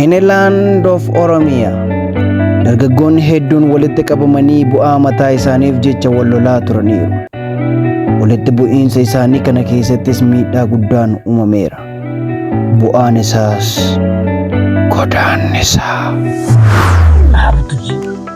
Iniland of Oromia dargaggoonni hedduun walitti qabamanii bu'aa mataa isaaniif jecha wal lolaa turaniiru. Walitti bu'iinsa isaanii kana keessattis miidhaa guddaan uumameera. Bu'aan isaas godaannisaa.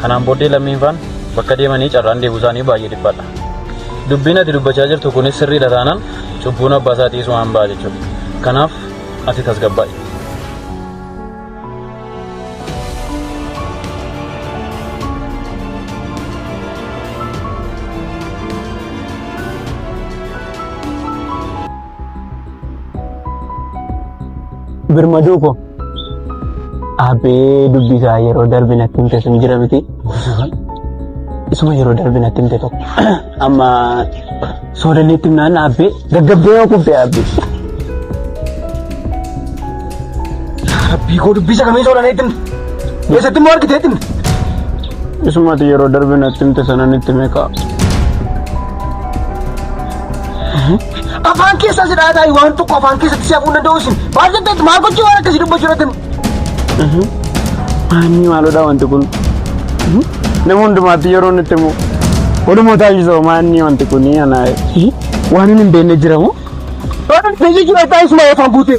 Kanaan booddee lammiinfaan bakka deemanii carraan deebuu isaanii baay'ee dhiphaadha. Dubbiin ati dubbachaa jirtu kunis sirriidha taanaan cubbuun abbaa isaa dhiisuu waan ba'a jechuudha. Kanaaf ati tasgabbaa'i. Birmaduu koo. Abbee dubbii isaa yeroo darbe natti himte sun jira miti. Isuma yeroo darbe natti himte tokko. Amma soodanneetti himnaan abbee gaggabdee yoo kufte abbee. Rabbii koo dubbii isa kamii soodanneetti himte. Eessatti immoo argiteetti himte. Isumati yeroo darbe natti himte sana nitti meeqa. Afaan keessaa si dhaataa waan tokko afaan keessatti si hafuun danda'u isin. Maal jetteetti maal gochuu waan akkasii dubbachuu irratti. Maanni maalodha wanti kun? Nama hundumaatti yeroo nutti himu. Walumaa taasisoo maanni wanti kun ana. Waan hin beekne jira moo? Waan hin beekne jira taasisuma afaan guutee.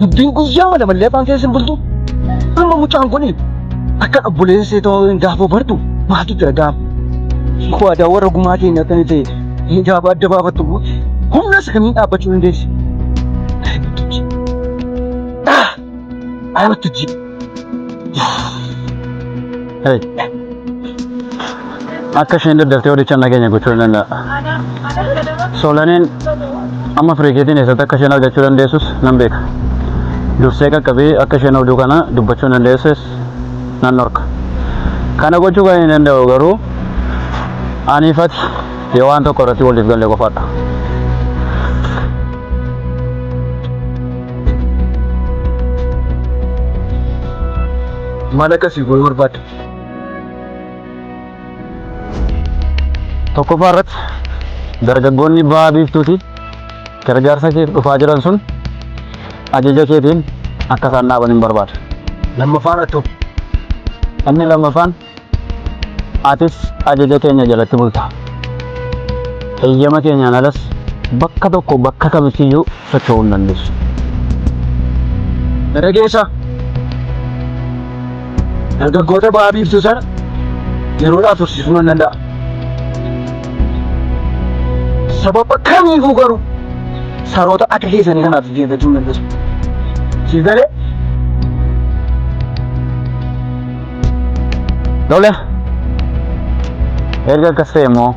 Dubbiin guyyaa mana mallee afaan keessa hin bultu. Amma mucaan kun akka obboleessee ta'uu hin gaafoo bartu maaltu jira gaaf. Waadaa warra gumaa keenya akka ta'e hin gaafa adda baafattu humna isa kamiin dhaabbachuu dandeessi. Ayi wattajjii. Akka isheen daddaftee horicha nageenya gochuu ni danda'a. Soolaneen amma firiikeetiin eessatti akka isheen argachuu dandeessus nan beeka. Dursee qaqqabee akka isheen oduu kana dubbachuu hin dandeesses nan dhorka. Kana gochuu kan hin danda'u garuu ani ifati Yoo waan tokko irratti waliif galle qofadha. Maal akkasii gochuu barbaadde? Tokkoffaa irratti dargaggoonni bahaa biiftuuti gargaarsa keef dhufaa jiran sun ajaja keetiin akka isaan dhaaban hin barbaada. Lammaffaa irratti hoo? Inni lammaffaan Atis ajaja keenya jalatti bulta. Heyyama keenyaan alas bakka tokko bakka kamittiyyuu socho'uu hin dandeessu. Dargaggeessa! Dargaggoota Baha Biiftuu sana yeroodhaaf tursiisuu nan danda'a. Sababa kamiifuu garuu saroota akka keessanii kanaaf jilbeeffachuu hin dandeessu. Siif galee? Tole. Erga akkas ta'e immoo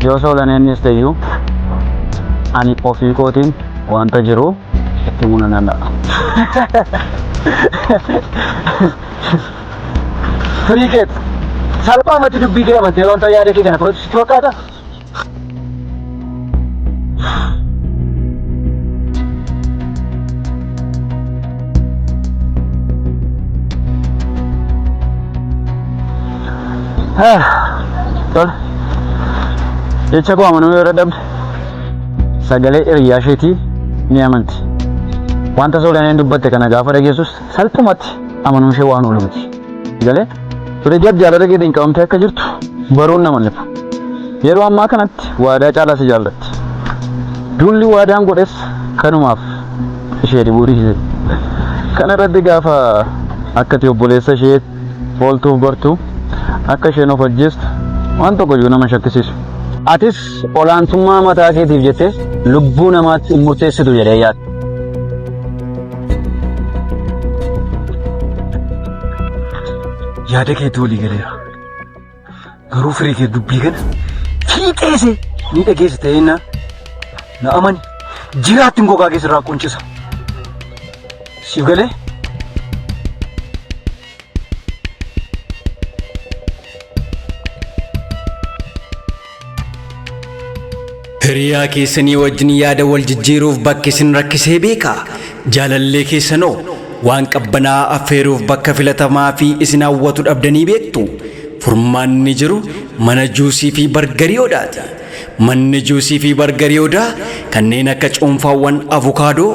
yoo soolan eenyus ta'eyyuu ani ofii kootiin wanta jiru itti himuu nan danda'a. Firii keet salphaamatti dubbii kee amantee wanta yaada kee kana fudhatu sitti fakkaata? Tole. Jecha koo amanuu yoo dadhabde sagalee hiriyaa isheetii ni amanti. Wanta soolaneen dubbatte kana gaafa dhageessus salphumatti amanuun ishee waan oolu miti. Galee Fireedii Abdii Alada Geedeen qabamtee akka jirtu baruun nama lifa. Yeroo ammaa kanatti waadaa caalaa si jaallatti. Duulli waadaan godhes kanumaaf ishee dhibuu dhiise. Kana irratti gaafa akkati obboleessa ishee ooltuuf bartu akka isheen of ajjeestu waan tokko iyyuu nama shakkisiisu. Atis olaantummaa mataa keetiif jettee lubbuu namaatti hin murteessitu jedhee yaada. Yaada keetti walii galeera. Garuu firii kee dubbii kana fiixeese ni dhageessa ta'ee na na amani jiraattiin gogaa keessarraa quncisa. Siif galee? Hiriyaa keessanii wajjin yaada wal jijjiiruuf bakki isin rakkisee beekaa? Jaalallee keessanoo waan qabbanaa affeeruuf bakka filatamaa fi isin hawwatu dhabdanii beektu? Furmaanni jiru mana juusii fi bargarii odaati. Manni juusii fi bargarii Odaa kanneen akka cuunfaawwan avukaadoo,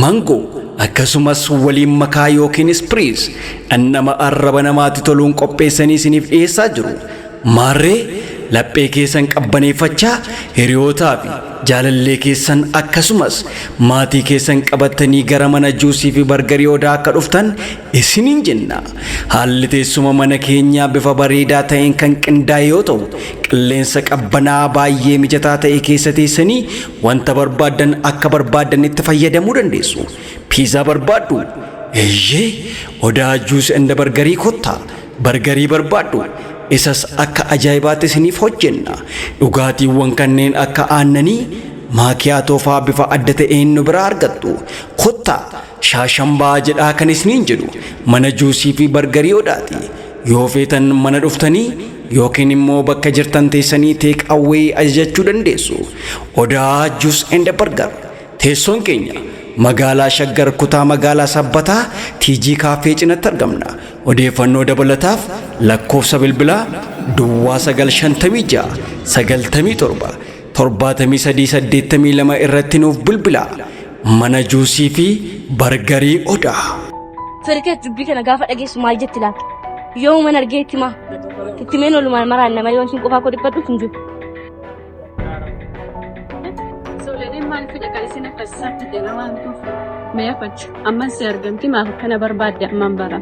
mangoo, akkasumas waliin makaa ykn spriis dhandhama arraba namaatti toluun qopheessanii isiniif dhiyeessaa jiru. Maarree, laphee keessan qabbaneeffachaa hiriyootaa fi jaalallee keessan akkasumas maatii keessan qabattanii gara mana juusii fi bargarii Odaa akka dhuftan isiniin jenna. Haalli teessuma mana keenyaa bifa bareedaa ta'een kan qindaa'e yoo ta'u, Qilleensa qabbanaa'aa baay'ee mijataa ta'e keessa teessanii wanta barbaaddan akka barbaaddanitti fayyadamuu dandeessu. Piizaa barbaaddu? Eeyyee, odaa Juus and Bargarii kottaa. Bargarii barbaaddu? Isas akka ajaa'ibaatti isiniif hojjenna. Dhugaatiiwwan kanneen akka aannanii, maakiyaatoo fa'aa bifa adda ta'een nu biraa argattu. Kottaa! Shaashambaa jedhaa kan isniin jedhu mana juusii fi bargarii odhaati. Yoo feetan mana dhuftanii yookiin immoo bakka jirtan teessanii teek awwee ajajachuu dandeessu. Odaa Juus and Bargar. Teessoon keenya magaalaa Shaggar kutaa magaalaa Sabbataa TG Kaaffee cinatti argamna. Odeeffannoo dabalataaf lakkoofsa bilbilaa Duwwaa 956 97 73 82 irratti nuuf bilbilaa mana juusii fi bargarii odaa. Firikeet dubbii kana gaafa dhageessu maal jetti laata? Yoomuman argee itti maa? Itti meen olumaan maraan nama yoo isin qofaa koo dhiphadhu hin jiru. Sooledeen maal fida kan isin akka isaatti jedha waan tuuf. Mee afachu amman si argamti maaf akkana barbaadde amman bara.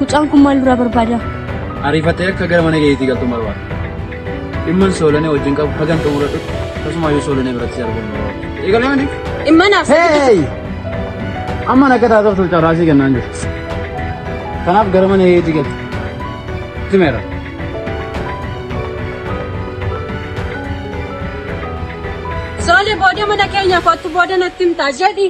Mucaan kun maal irraa barbaada? Ariifattee akka gara mana keetii galtu barbaada. Dhimman soolanee wajjin qabu hagan xumura dhufu tasumaayyuu soolanee biratti si argamu. Eegalee mani? Dhimma naaf Hey! Amma akka taatoftuuf carraasii kennaan jiru. Kanaaf gara mana keetii galti. Timeera. Soole booda mana keenya kottu booda natti himtaa jedhi.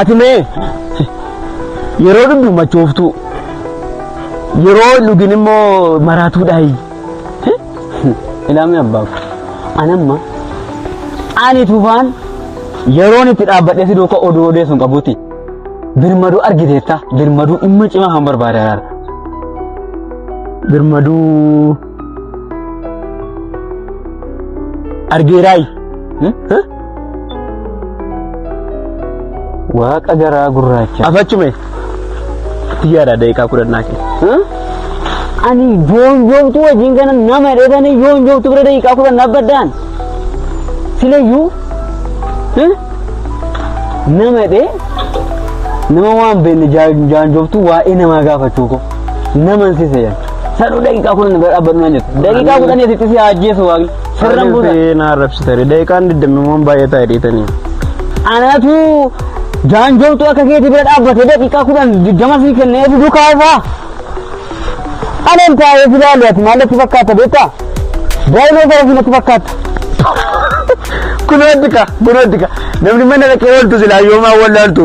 Ati mee yeroo dhugdu machooftuu yeroo hin dhugin immoo maraatuudhaayi. Ilaamee abbaaf anamma ani tufaan yeroon itti dhaabbadhee si duuka oduu odeessu hin qabuuti. Birmaduu argiteetta birmaduu dhimma cimaa kan barbaade araara. Birmaduu Argeeraay. Waaqa garaa gurraacha. Afachume. Xiyyaara daqiiqaa kudhannaa kee. Ani yoon yoomtu wajjin kana nama hidhatanii yoon yoomtu bira daqiiqaa kudhan dhaabbaddaan. Silayyuu nama hidhee nama waan beekne jaanjooftu waa'ee namaa gaafachuu koo. naman si seeyan sanuu daqiiqaa kudhan bira dhaabbannu naan jettu daqiiqaa kudhan asitti si ajjeesu waaqni sirran buusa na arrabsitani daqiiqaan digdamimmoon baay'ee taa'e dhiitanii anatu jaanjoomtu akka keeti bira dhaabbate daqiiqaa kudhan digdama si kennee si dukaa isaa anan taa'ee si laalu ati maal natti fakkaata beektaa daa'imee gara si natti fakkaata kun waddika kun waddika namni mana dhaqee ooltu silaa yoomaa wallaaltu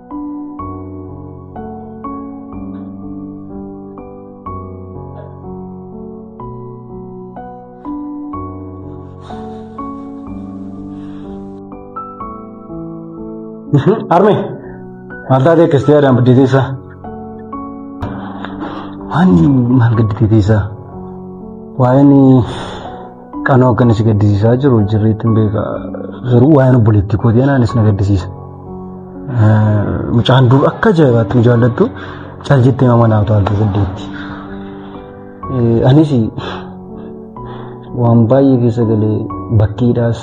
Arme, maal taatee akkas ta'e aadaan biddee teessaa? Waan maal gaddi teessaa? Waa'een Qanoo akka inni si gaddisiisaa jiru jirreetti hin beeka. Garuu waa'een obboleettii kootii anaanis na gaddisiisa. Mucaan dur akka ajaa'ibaatti nu jaallattu cal jettee nama naaf taaltu saddeetti. Anis waan baay'ee keessa galee bakkiidhaas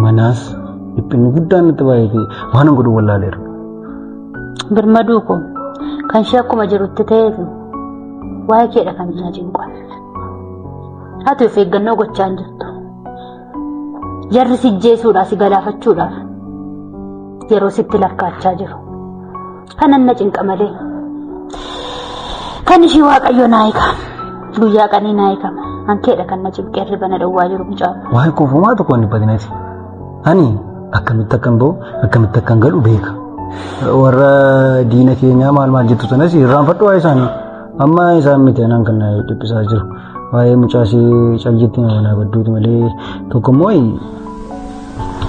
manaas dhiphinni guddaan natti baay'ate waan godhu wallaaleera. Birmaduu koo kan ishee akkuma jirutti ta'eef waa'ee keedha kan hin ajin qofa. Ati of eeggannoo gochaa hin jirtu. Jarri si jeesuudhaa si galaafachuudhaaf yeroo sitti lakkaachaa jiru. Kanan na cinqa malee. Kan ishii waaqayyo naa eega. Guyyaa qanii naa eega. Hankeedha kan na cinqee hirriba na dhowwaa jiru mucaa. Waa'ee koofumaa tokko hin badinati. Ani akkamitti akkan ba'u akkamitti akkan galu beeka. Warra diina keenyaa maal maal jettu sanas irraanfadhu waa'ee isaanii. Amma isaan miti anaan kan na dhiphisaa jiru. Waa'ee mucaasii caljitti nama naa badduuti malee tokko immoo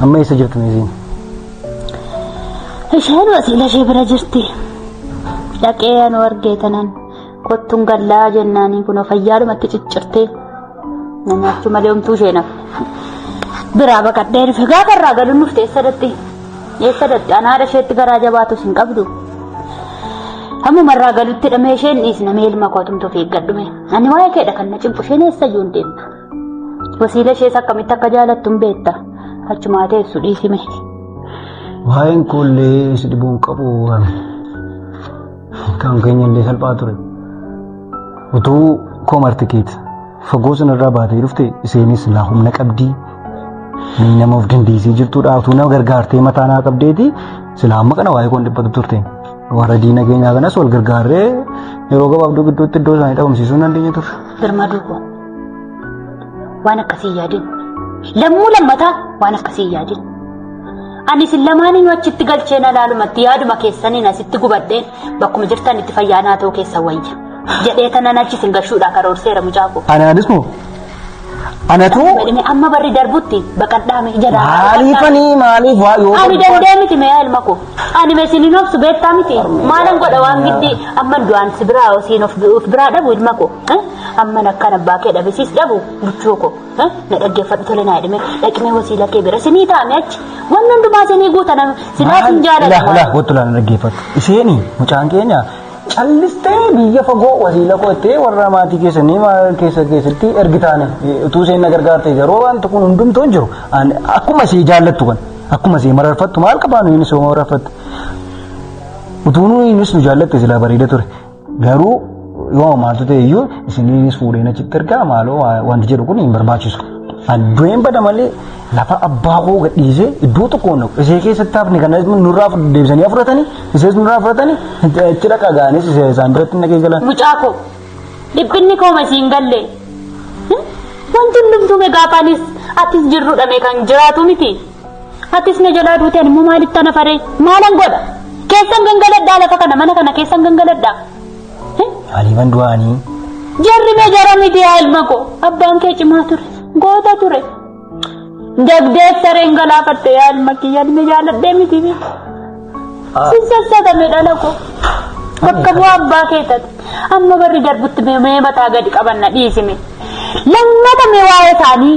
amma eessa jirtu meesiin? Isheen wasiila ishee bira jirti. Dhaqee anuu argee tanan kottuun gallaa jennaanii kunoo fayyaadhumatti ciccirtee. Namaachuu malee homtuu ishee naaf. Biraa baqadhee dhufe gaafa irraa galuun dhufte eessa datti? Eessa datti? Anaa haadha isheetti garaa jabaatus hin qabdu. Hammuma irraa galutti dhamee isheen dhiisna mee ilma koo tumtu of eeggadhume. Ani waa'ee keedha kan na cimpu isheen eessa iyyuu hin deemtu. Wasiila ishees akkamitti akka jaalattu hin beekta. Achumaa teessu dhiisime. Waa'een koollee si dhibuun qabu. Kan keenya illee salphaa ture. Utuu koomarti keeti fagoo sanarraa baatee dhufte isheenis laa humna qabdii inni nama of dandeessee jirtudha. Utuu nama gargaartee mataa naa qabdeeti silaa amma kana waa'ee koon dhiphatu turte. Warra diina keenyaa kanas wal gargaarree yeroo gabaabduu gidduutti iddoo isaanii dhabamsiisuu hin dandeenye turre. Birmaduu koo waan akkasii hin yaadin. Lammuu lammataa waan akkasii hin yaadin. Ani isin lamaaniinuu achitti galcheen alaalumatti yaaduma keessaniin asitti gubadheen bakkuma jirtan itti fayyaa naa ta'uu keessan wayya. Jedhee tanan achi isin gashuudhaa karoorseera mucaa koo. Anaanis moo? Anatu Badhime amma barri darbutti baqadhaame ija laa. maaliifanii maaliif waa yoo Ani danda'e miti meeyaa ilma koo. Ani meesiniin obsu beektaa miti. Maalan godha waan giddii amman du'aan si biraa osiin of biraa dhabu ilma koo. Amman akkan abbaa kee dhabisiis dhabu buchuu koo. na dhaggeeffadhu tole naa jedhame dhaqnee wasiila kee bira sinii taa'ame achi wanni hundumaa sinii guuta nama sinaa sin Ilaah ilaah jaalatu goottu laala dhaggeeffadhu. Isheeni mucaan keenya callistee biyya fagoo wasiila koo itti warra maatii keessanii maal keessa keessatti ergitaane utuu isheen na gargaarte garuu wanti kun hundumtuu hin jiru. Ani Akkuma ishee jaallattu kan akkuma ishee mararfattu maal qabaanu inni ishee mararfattu. Utuu nuyi innis nu jaallatte silaa bareeda ture. Garuu yoo maaltu ta'e iyyuu isiniinis fuudheen achitti ergaa maaloo wanti jedhu kun hin barbaachisu. An du'een bada malee lafa abbaa koo gadhiisee iddoo tokko hin dhaqu. Isee keessatti hafni kana nurraa deebisanii fudhatanii isees nurraa fudhatanii itti dhaqa ga'anis isaan biratti hin dhaqee galan. Mucaa koo dhiphinni koo masiin galle wanti hundumtuu megaafaanis atis jirrudha mee kan jiraatu miti. Atis na jalaa duute ani immoo maalitti ana faree maalan godha keessan gangaladhaa lafa kana mana kana keessan gangaladhaa. Eh? Aliiban du'aanii. Jarri mee jara miti yaa ilma koo abbaan kee cimaa ture goota ture. Jagdeef sareen galaafatte yaa ilma kiyya ilmi jaaladhee miti miti. Sin sassatame dhala koo. Bakka bu'aa abbaa kee taate amma barri darbutti mee mee mataa gadi qabanna dhiisime. Lammata mee waa'ee isaanii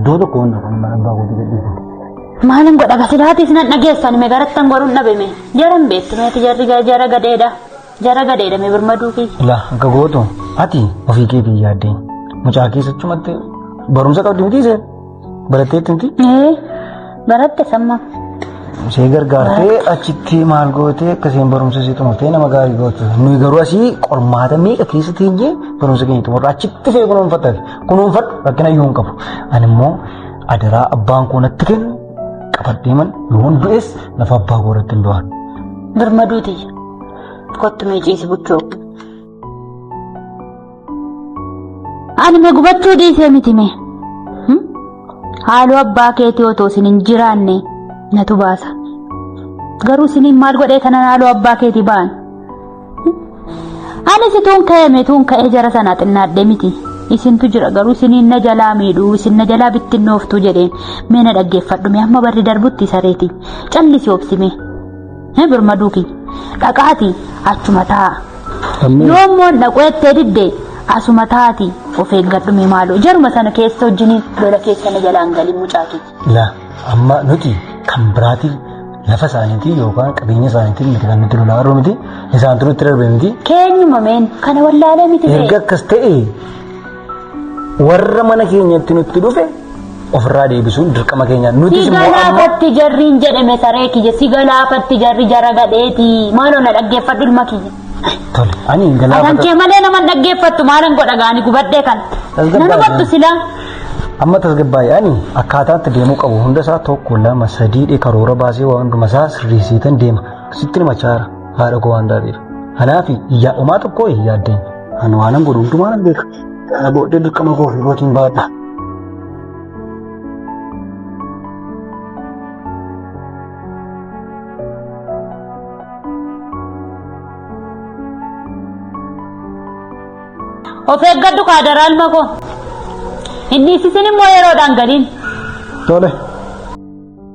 Iddoo tokko waan tokko mana abbaa kootii gadhiifate. Maalin godha gasilaatiif nan dhageessan me garattan godhuun dhabeme jaran beetti meeti jarri ga- jara gadeedha jara gadeedha me birmaduu fi Ilaa akka gootu ati ofii keetiin yaaddee mucaa keessachumatti barumsa qabdi miti isheen baratteetti miti ee Baratte samma. Ishee gargaartee achitti maal gootee akkasiin barumsa isii xumurtee nama gaarii gootu. Nuyi garuu asii qormaata meeqa keessa teenyee barumsa keenya xumurra achitti ishee kunuunfatta. Kunuunfadhu rakkina iyyuu hin qabu. Ani immoo adaraa abbaan koo natti kennu qabadheeman yoon du'es lafa abbaa koo irratti hin du'an. Birmaduu tiyya. Kottu mee ciisi buchoo. Ani mee gubachuu dhiisee miti mee. Haaloo abbaa keetii otoo isin hin jiraanne natu baasa. Garuu isiniin maal godhee kanan haaloo abbaa keetii ba'an. Ani situun ka'ee meetuun ka'ee jara sanaa xinnaadhee miti. Isintu jira garuu isiniin na jalaa miidhuu isin na jalaa bittinnooftuu jedheen mee na dhaggeeffadhu mee amma barri darbutti sareeti callisi obsimee. Hee birmaduu kiyya. Dhaqaati achuma taa'a. Ammee. Yoo immoo dhaquu ettee didde asuma taati of eeggadhu mee maaloo. Jaruma sana keessa wajjin lola keessa na jalaan galii mucaa keeti. la amma nuti kan biraatiin lafa isaaniitiin yookaan qabeenya isaaniitiin miti kan nuti lolaa jirru miti isaan turu itti darbe miti Keenyuma meen kana wallaalee miti ta'e. erga akkas ta'e warra mana keenyatti nutti dhufe ofirraa deebisuun dirqama keenya nutis Si immoo amma galaafatti jarriin jedhame saree kiyya si galaafatti jarri jara gadheeti maaloo na dhaggeeffadhu ilma kiyya. tole ani hin Afaan galaafata kee malee nama hin dhaggeeffattu maalan godha gaani gubadhee kan. Tasgabbaa'e. Nan hubattu silaa. amma tasgabbaa'e ani akkaataatti deemuu qabu hunda isaa tokko lama sadii dhe karoora baasee waa hunduma isaa sirreessiitan deema sitti himachaa jira haadha koo waan taateef. Kanaaf yaa omaa tokkoo hin yaaddeen. Ani waanan godhu hundumaa nan beeka. Kana booddee dirqama koo fi kootiin baadha. Of eeggadhu kaadaraan makoo. Inni isisin immoo yeroodhaan galiin. Tole.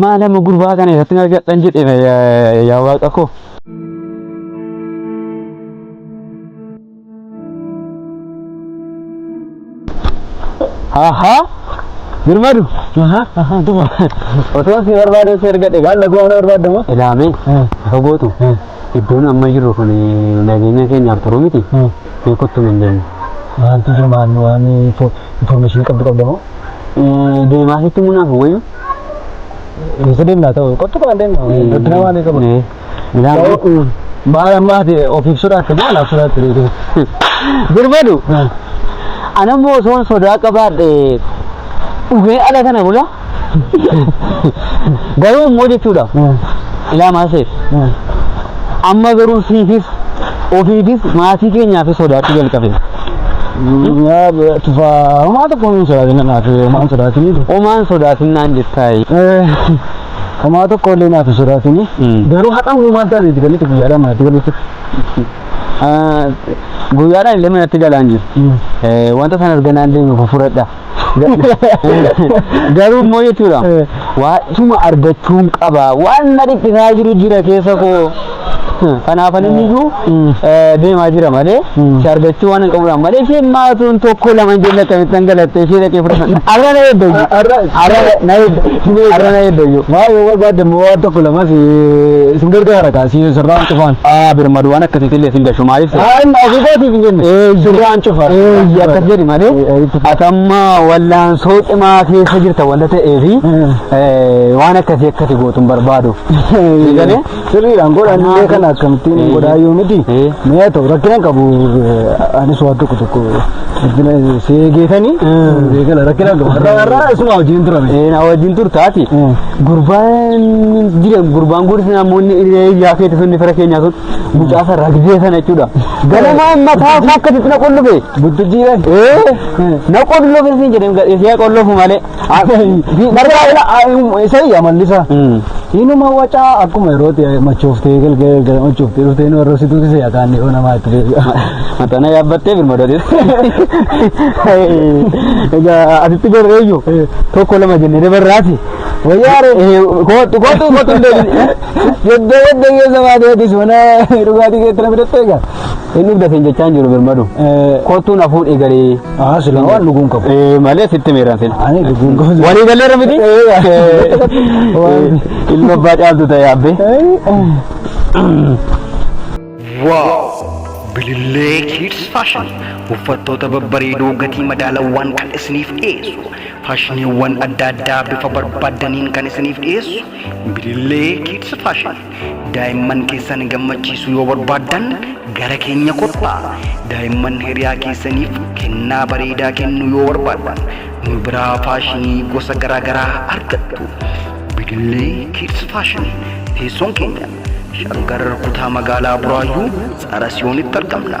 maal amma gurbaa kana irratti argadhan jedhe yaa waaqa koo. Ahaa. Birmadu. Otoo si barbaadee si ergadhe gaal laguu ana barbaadda moo? Ilaamee ifa gootu iddoon amma jirru kun nageenya keenyaaf turu miti beekuttu hin deemu. Wanti jiru maal waan information qabdu qabda moo? Deemaa sitti munaaf wayyu. Isa deemnaa ta'u qottu kan deemnu. Gaddina waan qabu. Bishaan Maal ammaati of ibsuudhaaf kan maal ibsuudhaatti reetu. Birmadu. Anammoo osoon sodaa qabaadhe dhugee ala kana bula. Garuu immoo jechuudha. Ilaa maaseef. Amma garuu siifis ofiifis maatii keenyaafis sodaachuu jalqabe. Tufaa homaa tokko hin sodaatine naaf homaa hin sodaatine. Omaan sodaatinaan jettaayi. Homaa tokko illee naaf hin sodaatini. Garuu har'a immoo maal taate itti galite guyyaadhaan manatti galuu turte. Guyyaadhaan illee manatti galaan jiru. Eh, Wanta sana erga naan deeme fufuradha. Garuu immoo jechuudha. Waa'isuma argachuun qaba. Waan na dhiphisaa jiru jira keessa koo. Kanaafan inni iyyuu deemaa jira malee si argachuu waan hin qabuudhaan malee isheen maatuun tokko lama hin jenne akkamittan galattee ishee dhaqee fudhatan arra na eedda iyyuu arra na eedda arra na eedda iyyuu. Maa yoo barbaadde immoo waan tokko lama si sin gargaara kaa si sirraan cufaan. Aa birmadu waan akkasiitti illee sin gashu maaliif si. Aa inni ofii kootiif hin jenne sirraan cufa. Eeyyi akkas jedhi malee ati amma wallaansoo cimaa keessa jirta wanta ta'eefi waan akkasii akkati gootu hin barbaadu. Eegalee. Sirriidhaan godhan illee kana akkamittiin hin godhaa yoo miti. Eh. Mee haa ta'u rakkina hin qabu eh, anis waan tokko tokko rakkina si eegeetanii eegala rakkina hin qabu. Har'a har'a isuma hojiin turame. Eh, na wajjin turtaati. Mm. Gurbaan jira gurbaan guddisni namoonni ijaa keetti sun fira keenyaa sun mucaa sana ragdee sana jechuudha. Ganamaa mataa isaa akkasitti na qullufe. Buttujiidhaan. Eh, na qullufe siin jedhee gadhee siyaa qullufu malee. Isa iyya mallisa. Inuma wacaa akkuma yerootti machooftee galgala galgala machooftee dhuftee nu arrabsituu kisa yaakaan yoo namaa itti deebi'a. Matana yaabbattee birmadootis. Egaa asitti gorreeyyu tokko lama jennee dabarraati. Wayyaare kootu kootu kootu deebiin. Yadda yadda keessa maateetis mana dhugaatii keetti na fidattee egaa. Inni dhufdateen jechaa hin jiru birmadu. Kootuun hafuun egalee. Haa sila waan dhuguun qabu. Eh, malee sitti meeraan sila. Ani dhuguun qabu. Walii galleerra miti? Waan- Ilma abbaa caaltu ta'e abbee. Wow! Bilillee Kids Fashion uffattoota babbareedoo gatii madaalawaan kan isiniif dhiyeessu faashiniiwwan adda addaa bifa barbaaddaniin kan isiniif dhiyeessu Bilillee Kids Fashion Daa'imman keessan gammachiisuu yoo barbaaddan gara keenya kottaa. Daa'imman hiriyaa keessaniif kennaa bareedaa kennuu yoo barbaaddan nu biraa faashinii gosa garaagaraa argattu. Bidillee Kids Fashion teessoon keenya Shaggar kutaa magaalaa Buraayyuu Tsara Siyoonitti argamna.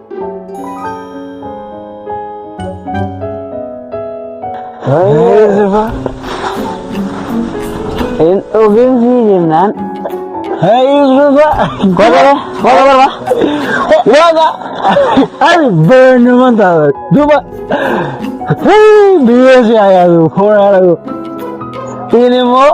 Hin dhugin sii jennaan. Hayusufa. Kolaba kolaba. Waga. Ani beenu man ta'a. Duba. Hii biyya si ayyaadu foora ayyaadu. Ini immoo.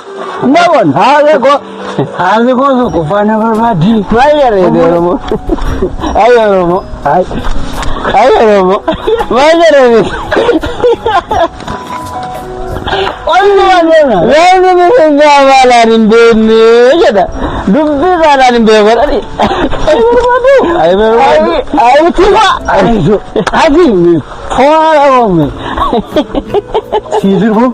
Namoon haala koo haala koo tokko faana barbaaddi. Baay'ee reedu Oromoo. Ay Oromoo. Ay. Ay Oromoo. Baay'ee reedu. Olli wantoota. Reedu miseensaa maalaan hin beekne jedha. Dubbii maalaan hin beeku jedhani. Ay barbaadu. Ay barbaadu. Ay tima. Ay jo. Ati mi. Faara oome. Siisirbu.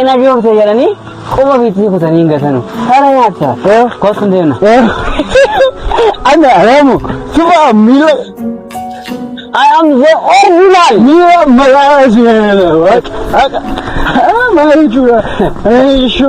Ina joofte jedhanii quba ofiitti kutanii hin gatanu. Haala nyaatta. Kootu hin deemna. Ana Ramu, coba Mila. I am the original. Mila Malaysia. Malaysia. Malaysia.